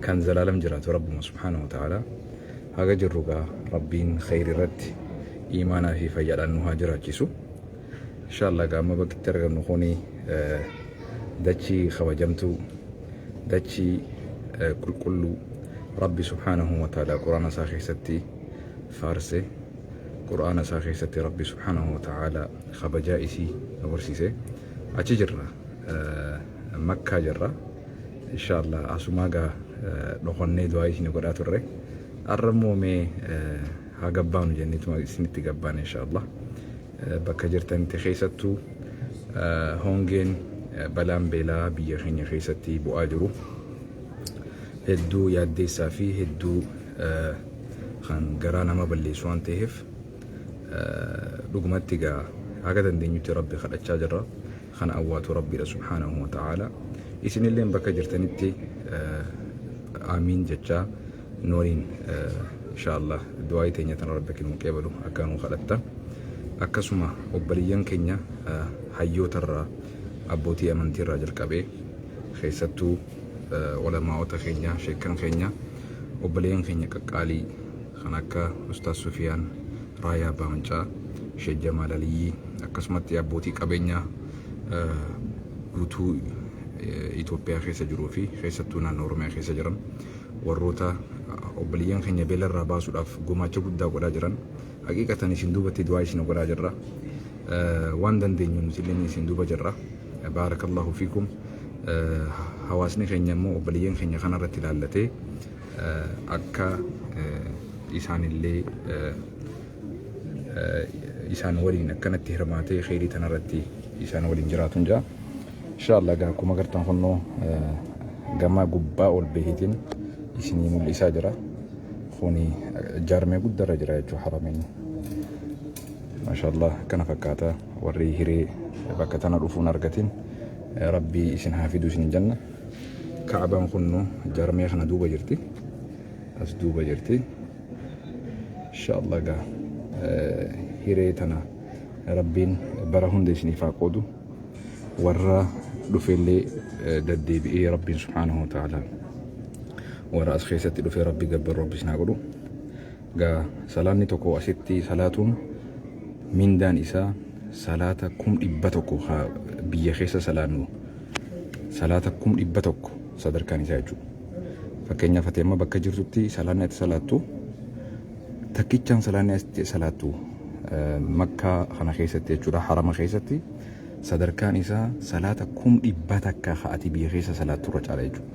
kan zalaalam jiraatu rabbuma subhaanahu wa ta'aalaa haga jirru gaa rabbiin kheyri irratti iimaanaa fi fayyaadhaan nu haa jiraachisu inshaallah gaa amma bakkitti argamnu kuni dachii kabajamtuu dachii qulqulluu rabbi subhaanahu wa ta'aalaa quraana isaa keessatti faarse quraana isaa keessatti rabbi subhaanahu wa ta'aalaa kabajaa isii nu barsiise achi jirra makkaa jirra Inshaallah asumaa gaa dhokannee du'aa isin godhaa turre arra immoo mee haa gabbaanu jenneetuma isinitti gabbaan inshaallah bakka jirtanitti keessattuu hongeen balaan beelaa biyya keenya keessatti bu'aa jiru hedduu yaaddeessaa fi hedduu kan garaa nama balleessu waan ta'eef dhugumatti gaa haga dandeenyutti rabbi kadhachaa jirra. kan awwaatu rabbiidha subhaanahu wa ta'aala isinilleen bakka jirtanitti aamiin jechaa nu waliin inshaallah du'aa'ii teenya tana rabbi akka nuu qeebalu akka nuu kadhatta akkasuma obbaliyyan keenya hayyootarraa abbootii amantiirraa jalqabee keessattuu olamaa'ota keenya sheekkan keenya obbaliyyan keenya qaqqaalii kan akka Ustaaz Sufiyaan, Raayaa Abbaa Mancaa, Sheek Jamaal Aliyyii akkasumatti abbootii qabeenyaa guutuu Itoophiyaa keessa jiruu fi keessattuu naannoo Oromiyaa keessa jiran warroota obboleeyyan keenya beela irraa baasuudhaaf gumaacha guddaa godhaa jiran haqiiqatan isin duubatti du'aa isin godhaa jirra. Waan dandeenyu nuti illee isin duuba jirra. Baarakallahu fiikum. Hawaasni keenya immoo obboleeyyan keenya kanarratti ilaallatee akka isaanillee isaan waliin akkanatti hirmaatee kheyrii tanarratti isaan waliin jiraatun jaa inshaallah gaa akkuma gartan kunnoo gamaa gubbaa ol beehitiin isinii mul'isaa jira kuni jaarmee guddarra jira jechuu harameen mashaallah akkana fakkaata warri hiree bakka tana dhufuun argatiin rabbii isin haa fidu isin jenna Ka'abaan kunno jarmee kana duuba jirti. As duuba jirti. Inshaallah gaa hiree tana rabbiin bara hunda isiniif haa qoodu. Warra dhufeellee daddeebi'ee rabbiin subhaanahu wa ta'ala warra as keessatti dhufee rabbi gabbaru rabbi isin haa godhu. Egaa salaanni tokko asitti salaatuun mindaan isaa salaata kum dhibba tokko haa biyya keessa salaannu salaata kum dhibba tokko sadarkaan isaa jechuudha. Fakkeenyaaf ati amma bakka jirtutti salaanni ati salaattu takkichaan salaanni ati salaattu eh, makkaa kana keessatti jechuudha harama keessatti sadarkaan isaa salaata kum dhibba takka haa ati biyya keessa salaattu irra caala jechuudha.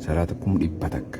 Salaata kum dhibba takka.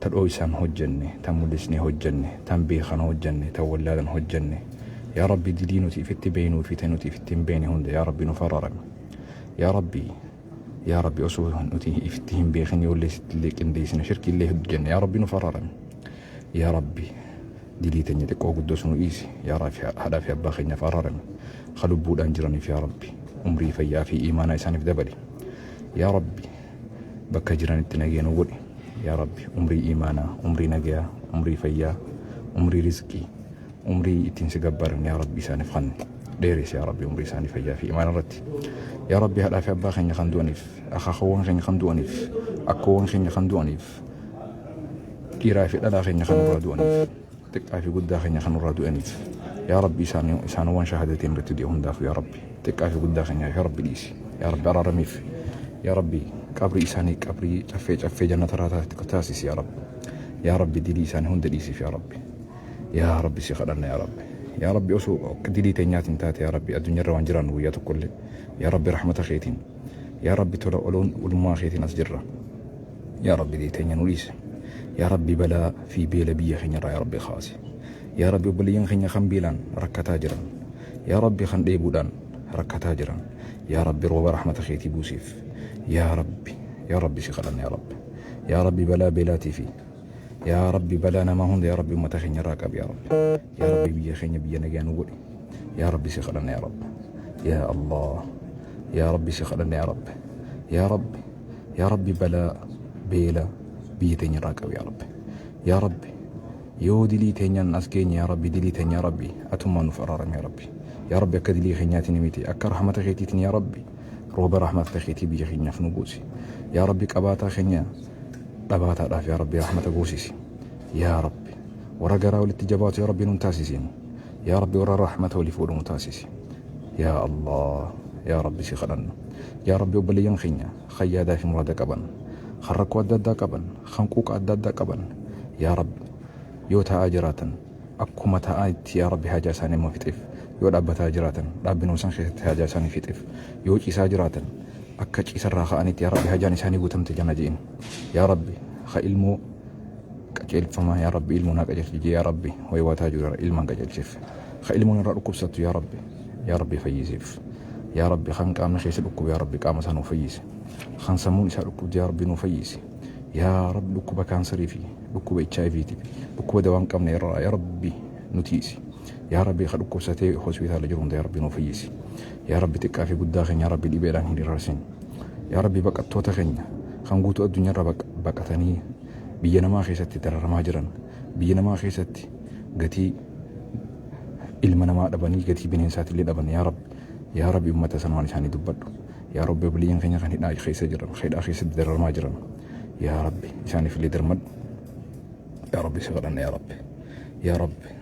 Ta dhooysaan hojjanne, tan mullisnee hojjanne, tan beekhan hojjanne, tan wallaalan hojjanne, Yaa Rabbi dilii nuti ifitti beeynuu fi ta nuti ifitti hin beeyne hunda Yaa Rabbi nuf ararami. Yaa Rabbi Yaa Rabbi osoo nuti ifitti hin beekhin yoollee sittillee qindeeysine shirkiillee heddu jenne Yaa Rabbi nuf ararami. Yaa Rabbi dilii teenya xiqqoo guddoos nu dhiisi. Yaa Rabbi haadhaa fi abbaa keenyaaf ararami. Kha lubbuudhaan jiraniif Yaa Rabbi umrii fayyaa fi iimaanaa isaaniif dabali. Yaa Rabbi. bakka jiranitti nagee nu godhi yaa rabbi umrii iimaanaa umrii nagayaa umrii fayyaa umrii rizqii umrii ittiin si gabbaaran yaa rabbi isaaniif kan dheeres yaa rabbi umrii isaanii fayyaa fi imaana irratti yaa rabbi haadhaa fi abbaa keenya kan du'aniif akaakawwan keenya kan du'aniif akkoowwan keenya kan du'aniif dhiiraa fi dhalaa keenya kan irraa du'aniif xiqqaa fi guddaa keenya kan nurraa du'aniif yaa rabbi isaan isaanowwan shahaadateen irratti du'e hundaaf yaa rabbi xiqqaa fi guddaa keenyaaf yaa rabbi dhiisi yaa rabbi araaramiif yaa rabbi qabrii isaanii qabrii caffee caffee jannata irraa taasisu taasisi yaa rabbi yaa rabbi dilii isaanii hunda dhiisiif yaa rabbi yaa rabbi si kadhanna yaa rabbi yaa rabbi osoo dilii teenyaatiin taate yaa rabbi addunyaa irra waan jiraannu guyyaa tokkollee yaa rabbi rahmata keetiin yaa rabbi tola oloon ulummaa keetiin as jirra yaa rabbi deeteenya nu dhiise yaa rabbi balaa fi beela biyya keenya irraa yaa rabbi kaase yaa rabbi obboleeyyan keenya kan beelaan rakkataa jiran yaa rabbi kan dheebuudhaan rakkataa jiran yaa rabbi rooba rahmata keetii buusiif yaa rabbi yaa rabbi si kadhanna yaa rabbi yaa rabbi balaa beelaatii fi yaa rabbi balaa namaa hunda yaa rabbi ummata keenya irraa qabi yaa rabbi Yaa Rabbi biyya keenya biyya nagaa nu godhi. Yaa Rabbi si kadhanna yaa Rabbi. Yaa Allah. Yaa Rabbi si kadhanna yaa Rabbi. Yaa Rabbi. Yaa Rabbi balaa beela biyya teenya irraa qabu yaa Rabbi. Yaa Rabbi. Yoo dilii teenyaan as geenye yaa Rabbi dilii teenya yaa Rabbi atummaan nuuf araarami yaa Rabbi. Yaa Rabbi akka dilii keenyaatiin miti akka rahmata keetiitiin yaa Rabbi rooba rahmata keetii biyya keenyaaf nu buusi. Yaa Rabbi qabaataa keenya dhabaataadhaaf yaa Rabbi rahmata buusisi. yaa rabbi warra garaa walitti jabaatu yaa rabbi nun taasisiin yaa rabbi warra rahmata waliif godhu nu taasisi yaa allah yaa rabbi si kadhanna yaa rabbi obboleeyyan keenya kan yaadaa fi muraada qaban kan rakkoo adda addaa qaban kan quuqa adda addaa qaban yaa rabbi yoo taa'aa jiraatan akkuma taa'aa itti yaa rabbi haajaa isaanii immoo fixeef yoo dhaabbataa jiraatan dhaabbinuma isaan keessatti haajaa isaanii fixeef yoo ciisaa jiraatan akka ciisarraa ka'anitti yaa rabbi hajaan isaanii guutamte jana je'in yaa rabbi ha ilmoo qajeelfama yaa rabbi ilmoo naa qajeelchi jee yaa rabbi hoywaataa jiru ilmaan qajeelchiif ka ilmoon irraa dhukkubsattu yaa rabbi yaa rabbi fayyisiif yaa rabbi kan qaamni keessa dhukkuba yaa rabbi qaama isaa nuu fayyisi kan sammuun isaa dhukkubdi yaa rabbi nuu fayyisi yaa rabbi dhukkuba kaansarii fi dhukkuba HIV ti dhukkuba dawaan qabne irraa yaa rabbi nutiisi yaa rabbi ka dhukkubsatee hospitaala jiru hunda yaa rabbi nuu fayyisi Yaa Rabbi xiqqaa fi guddaa keenya yaa Rabbi dhibeedhaan hin irarsin. Yaa Rabbi baqattoota keenya kan guutuu addunyaarra baqatanii biyya namaa keessatti dararamaa jiran biyya namaa keessatti gatii ilma namaa dhabanii gatii bineensaatti illee dhaban yaa Rabbi yaa Rabbi uummata sanumaan isaanii dubbadhu. Yaa Rabbi obboliyyeen keenya kan hidhaa keessa jiran hidhaa keessatti dararamaa jiran yaa Rabbi isaaniif illee darmadhu. Yaa Rabbi si kadhanna yaa Rabbi yaa Rabbi.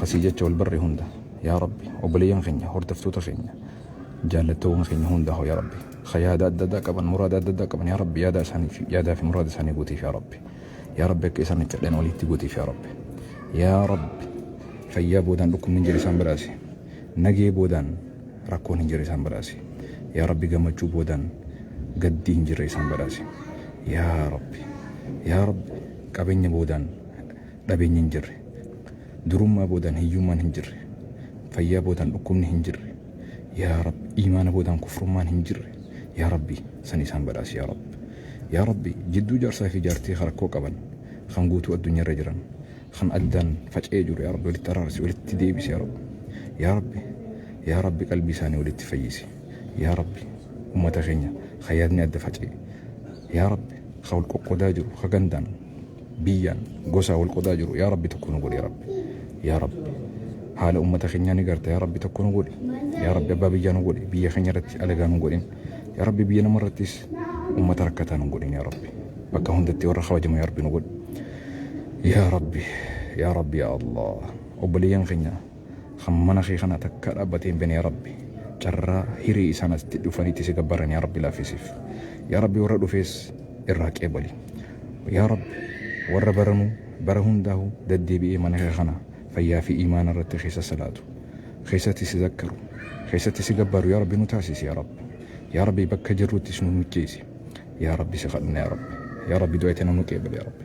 Kasii jecha wal barre hunda yaa rabbi obboleeyyan keenya hordoftoota keenya jaallattoowwan keenya hundaa hoo yaa rabbi ka yaada adda addaa qaban muraada adda addaa qaban yaa rabbi yaada isaanii fi yaadaa fi muraada isaanii guutiif yaa rabbi yaa rabbi akka isaan itti dhadhan walitti guutiif yaa rabbi yaa rabbi fayyaa boodaan dhukkubni hin jira isaan badhaasi nagee boodaan rakkoon hin jira isaan badhaasi yaa rabbi gammachuu boodaan gaddii hin jira isaan badhaasi yaa rabbi yaa rabbi qabeenya boodaan Dhabeenyi hin jirre. Durummaa boodaan hiyyummaan hin jirre. Fayyaa boodaan dhukkubni hin jirre. Yaa Rabb iimaana boodaan kufrummaan hin jirre. Yaa Rabbi san isaan badhaasi yaa Rabb. Yaa Rabbi jidduu jaarsaa fi jaartii ka rakkoo qaban, kan guutuu addunyaa irra jiran, kan addaan faca'ee jiru yaa Rabbi walitti araarsi, walitti deebisi yaa Rabbi. Yaa Rabbi Yaa Rabbi qalbii isaanii walitti fayyisi. Yaa Rabbi ummata keenya ka yaadni adda faca'e. Yaa Rabbi ka wal qoqqodaa jiru ka gandaan, biyyaan gosaa wal qodaa jiru yaa rabbi tokko nu godhi yaa rabbi yaa rabbi haala ummata keenyaa ni garta yaa rabbi tokko nu godhi yaa rabbi abbaa biyyaa nu godhi biyya keenya irratti alagaa nu godhin yaa rabbi biyya nama irrattis ummata rakkataa nu godhin yaa rabbi bakka hundatti warra kabajamu yaa rabbi nu godhi yaa rabbi yaa rabbi yaa allah obboleeyyan keenya Kan mana kee kana takkaa dhaabbatee hin beekne yaa Rabbi carraa hiree isaan asitti dhufanii itti si gabbaran yaa Rabbi laaffisiif. Yaa Rabbi warra dhufees irraa qeebali. Yaa Rabbi warra baranuu bara hundaahu daddeebi'ee mana kee kana fayyaa fi iimaana irratti keessa salaatu. Keessatti si zakkaru. Keessatti si gabbaru yaa Rabbi nu taasisi yaa Rabbi. Yaa Rabbi bakka jirruttis nu mijjeessi. Yaa Rabbi si kadhanna yaa Rabbi. Yaa Rabbi du'aa itana nu qeebali yaa Rabbi.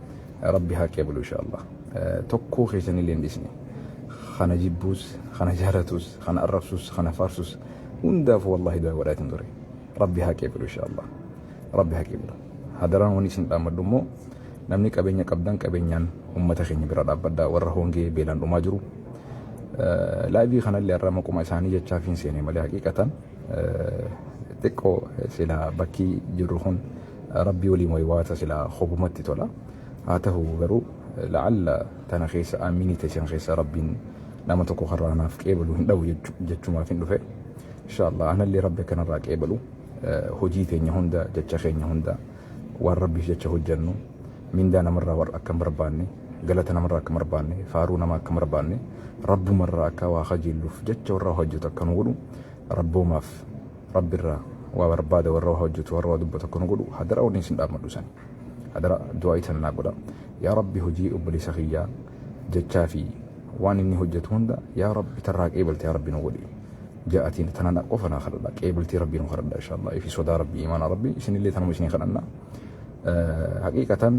Rabbi haa qeeblu inshallah. Tokkoo keessanillee hin dhisne. Kana jibbuus, kana jaalatus, kana arrabsus, kana faarsus hundaaf wallahi du'a godhaatiin ture. Rabbi haa qeeblu inshallah. Rabbi haa qeeblu. Hadaraan waan isin dhaammadhu immoo namni qabeenya qabdan qabeenyaan uummata keenya bira dhaabbadhaa warra hongee beelaan dhumaa jiru. Laayivii kanallee irraa maquma isaanii jechaa fi hin seenee malee haqiiqatan xiqqoo sila bakkii jirru kun Rabbii waliin waywaata silaa kobumatti tola haa tahu garuu la'alla tana keessa aaminii teessan keessa Rabbiin nama tokko kan irraa naaf qeebalu hin dhabu jechumaafin dhufe inshaallah anallee Rabbi akka narraa qeebalu hojii teenya hunda jecha keenya hunda waan Rabbiif jecha hojjannu mindaa namarraa warra akka hin barbaanne galata namarraa akka hin barbaanne faaruu nama akka hin barbaanne Rabbumarraa akka waa kajeelluuf jecha warra hojjetu akka nu godhu Rabboomaaf Rabbi irraa waa barbaada warra waa hojjetu warra waa dubbatu akka nu godhu hadara wanni isin dhaammadhu sani. Hadara du'aa'ii tana naa godha. Yaa Rabbi hojii obboleessa kiyyaa jechaa fi waan inni hojjetu hunda yaa Rabbi tarraa qeebalte yaa Rabbi nu godhi. Ja'atiin tana na qofa naa kadhadha qeebaltii Rabbii nu kadhadha inshallah fi sodaa Rabbii imaana Rabbii isinillee tanuma isin kadhanna. Haqiiqatan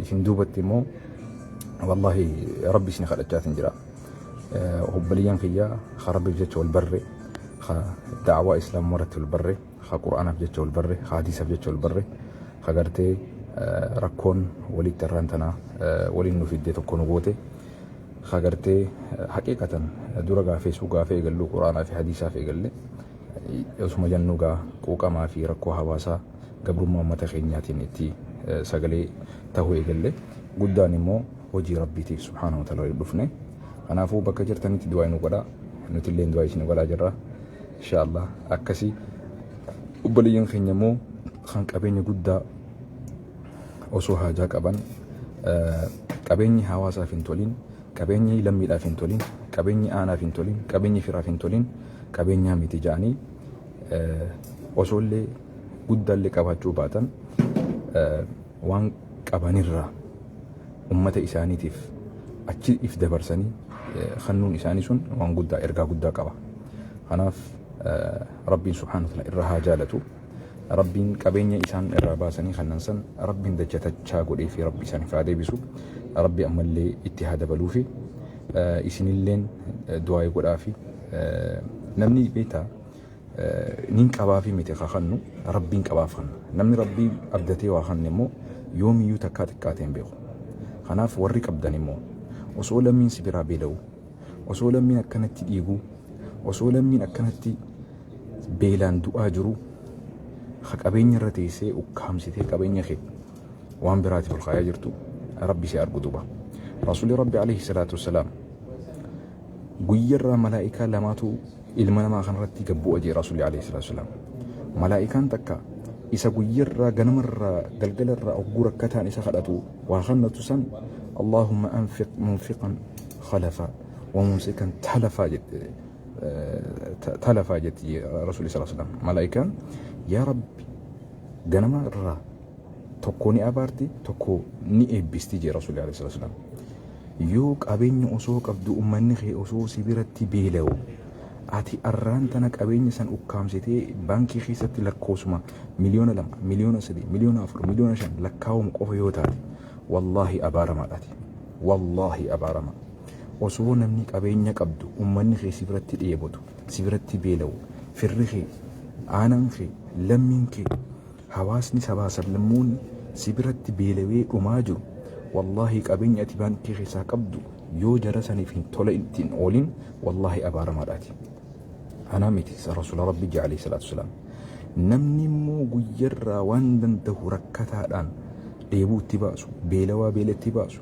isin duubatti immoo wallahi Rabbi isin kadhachaatiin jira. Obboleeyyan kiyya ka Rabbiif jecha wal barre, ka da'awaa Islaamummaa irratti wal barre, ka Qur'aanaaf jecha wal barre, ka Hadiisaaf jecha wal barre, ka gartee rakkoon walitti arraan tanaa waliin nu fidde tokko nu goote, ka gartee haqiiqatan dura gaa feesuu gaafa eegalluu Qur'aanaa fi Hadiisaaf eegalle osuma jannuu gaa quuqamaa fi rakkoo hawaasaa gabrummaa uummata keenyaatiin itti sagalee tahuu eegalle. Guddaan immoo hojii Rabbiitiif subhaanahu wa ta'aala walitti dhufne. Kanaafuu bakka jirtanitti du'aayi nu godhaa. Nutilleen du'aayi isin godhaa jirra. Inshaa Allah akkasi obboleeyyan keenya immoo kan qabeenya guddaa osoo haajaa qaban qabeenyi hawaasaaf hin tolin, qabeenyi lammiidhaaf hin tolin, qabeenyi aanaaf hin tolin, qabeenyi firaaf hin tolin qabeenyaa miti jedhanii osoollee guddaallee qabaachuu baatan waan qabanirraa ummata isaaniitiif achi if dabarsanii kannuun isaanii sun waan guddaa ergaa guddaa qaba. Kanaaf Rabbiin subhaanahu wa ta'ala irra haa jaalatu. Rabbiin qabeenya isaan irraa baasanii kannan san Rabbiin dachatachaa godhee fi Rabbi isaaniif haa deebisu. Rabbi ammallee itti haa dabaluu fi isinilleen du'aa godhaa fi namni beektaa Nin qabaafii miti ka kannu Rabbiin qabaaf kanna. Namni Rabbii abdatee waa kanne immoo yoomiyyuu takkaa xiqqaatee hin beeku. Kanaaf warri qabdan immoo osoo lammiin si biraa beela'uu, osoo lammiin akkanatti dhiiguu, osoo lammiin akkanatti beelaan du'aa jiruu ka qabeenya irra teessee ukkaamsitee qabeenya kee waan biraatiif ol kaayaa jirtu Rabbi si argu duuba. Rasuulli Rabbi alayhi salaatu wassalaam guyyarraa malaa'ikaa lamaatu Ilma namaa kanarratti gad bu'a jee Rasuulli Aleeyhi Salaatu Salaam. Malaa'ikaan takka isa guyyarraa ganamarraa galgalarraa hogguu rakkataan isa kadhatu waa kannatu san Allaahumma anfiq munfiqan khalafa wa mumsikan talafa jette talafa jetti jee Rasuulli Salaatu Salaam. Malaa'ikaan yaa Rabbi ganama irraa tokko ni abaarti tokko ni eebbisti jee rasuulli alayhi salaatu wasalaam yoo qabeenya osoo qabdu ummanni kee osoo si biratti beela'u ati arraan tana qabeenya san ukkaamsitee baankii keessatti lakkoofsuma miliyoona lama miliyoona sadii miliyoona afur miliyoona shan lakkaawamu qofa yoo taate wallaahi abaaramaadhaati wallaahi abaarama osoo namni qabeenya qabdu ummanni kee si biratti dheebotu si biratti beela'u firri kee aanaan kee lammiin kee Hawaasni sabaa sablammoon si biratti beelawee dhumaa jiru wallahi qabenya ati baankii keessaa qabdu yoo jara sanif hin tola itti hin oolin wallahi abaaramaadha ati anaa miti rasula rabbi je alayhi salaatu salaam namni immoo guyyarraa waan dandahu rakkataadhaan dheebuu itti baasu beelawaa beela itti baasu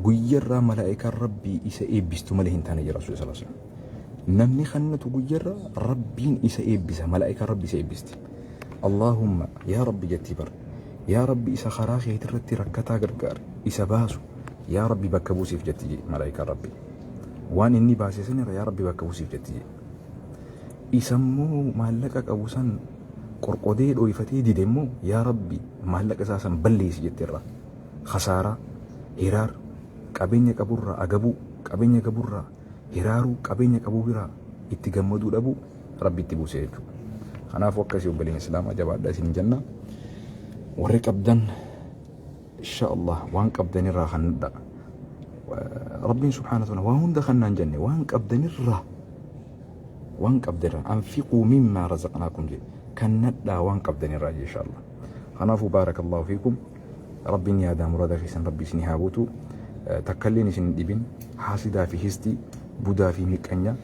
guyyarraa malaa'ikaan rabbii isa eebbistu malee hin taane jira rasula salaam namni kannatu guyyarraa rabbiin isa eebbisa malaa'ikaan rabbi isa eebbisti Allaahumma yaa Rabbi jetti bar yaa Rabbi isa karaa keetirratti rakkataa gargaari isa baasu yaa Rabbi bakka buusiif jetti jee malaayikaan Rabbi waan inni baase sanirra yaa Rabbi bakka buusiif jetti jee isammoo maallaqa qabu san qorqodee dhooyfatee dide immoo yaa Rabbi maallaqa isaa san balleessi jetti irraa khasaaraa hiraar qabeenya qaburraa agabuu qabeenya gaburraa hiraaruu qabeenya qabu biraa itti gammaduu dhabuu rabbi itti buuse jechuudha. Kanaafuu akkasii obboleen Islaamaa jabaadha isin jenna. Warri qabdan insha Allah waan qabdan irraa kan nudha. Rabbiin subhaanahu wa ta'ala waan hunda kan naan jenne waan qabdan irraa waan qabdan irraa anfiquu mimmaa razaqnaakum jedhe kan nadhaa waan qabdan irraa insha Allah. Kanaafuu baarakallahu fiikum rabbiin yaadaa murada keessan rabbi isin haa guutu takkalleen isin dhibin haasidaa fi histii budaa fi miqqanya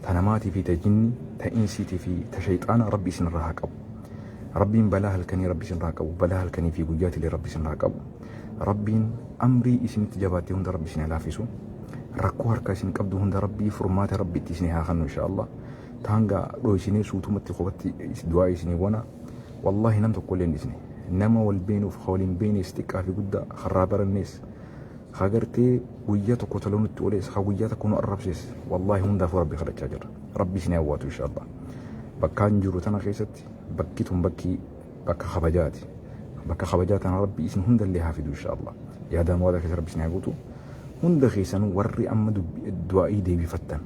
ta namaatii fi ta jinni ta insiitii fi ta shayxaana rabbi isinirraa haa qabu rabbiin balaa halkanii rabbi isinirraa qabu balaa halkanii fi guyyaatilee rabbi isinirraa qabu rabbiin amrii isinitti jabaattee hunda rabbi isin haa laafisu rakkoo harka isin qabdu hunda rabbii furmaata rabbi itti isin haa kennu insha Allah taanga dhoysinee suutumatti qofatti du'aa isinii wana wallahi nam tokko illee hin dhisne nama wal beenuuf ka wal hin beenees xiqqaa fi guddaa karraa barannees Haa gartee guyyaa tokko toloo nutti olees haa guyyaa tokko nu arrabsees wallaahi hundaafuu rabbi kadhachaa jirra rabbi isin hawwaatu inshaallah bakkaan jiru tana keessatti bakki tun bakki bakka kabajaati bakka kabajaa tana rabbi isin hundallee haa fidu inshaallah yaadaan waadaa keessa rabbi isin haa guutu hunda keessanuu warri amma du'aa'ii deebifattan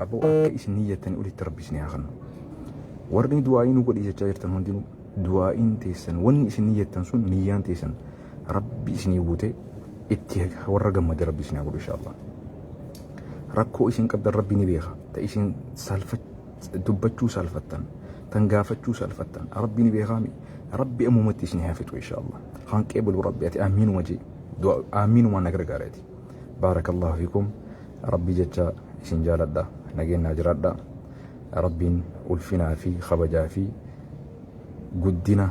aboo akka isin niyyattanii olitti rabbi isin haa kennu warri du'aa'ii nu godhi jechaa jirtan hundinuu du'aa'iin teessan wanni isin niyyattan sun niyyaan teessan Rabbi isinii guutee itti warra gammade rabbi isin haa godhu inshaallah. Rakkoo isin qabdan rabbi ni beeka. Ta isin salfa dubbachuu salfattan tan gaafachuu salfattan rabbi ni beekaa mi rabbi ammumatti isin haa fixu inshaallah. Kan qeebulu rabbi ati aamiinuma jee du'a aamiinuma na gargaara ati. Baarakallahu fikum rabbi jecha isin jaaladha nageenyaa jiraadha. Rabbiin ulfinaa fi kabajaa fi guddina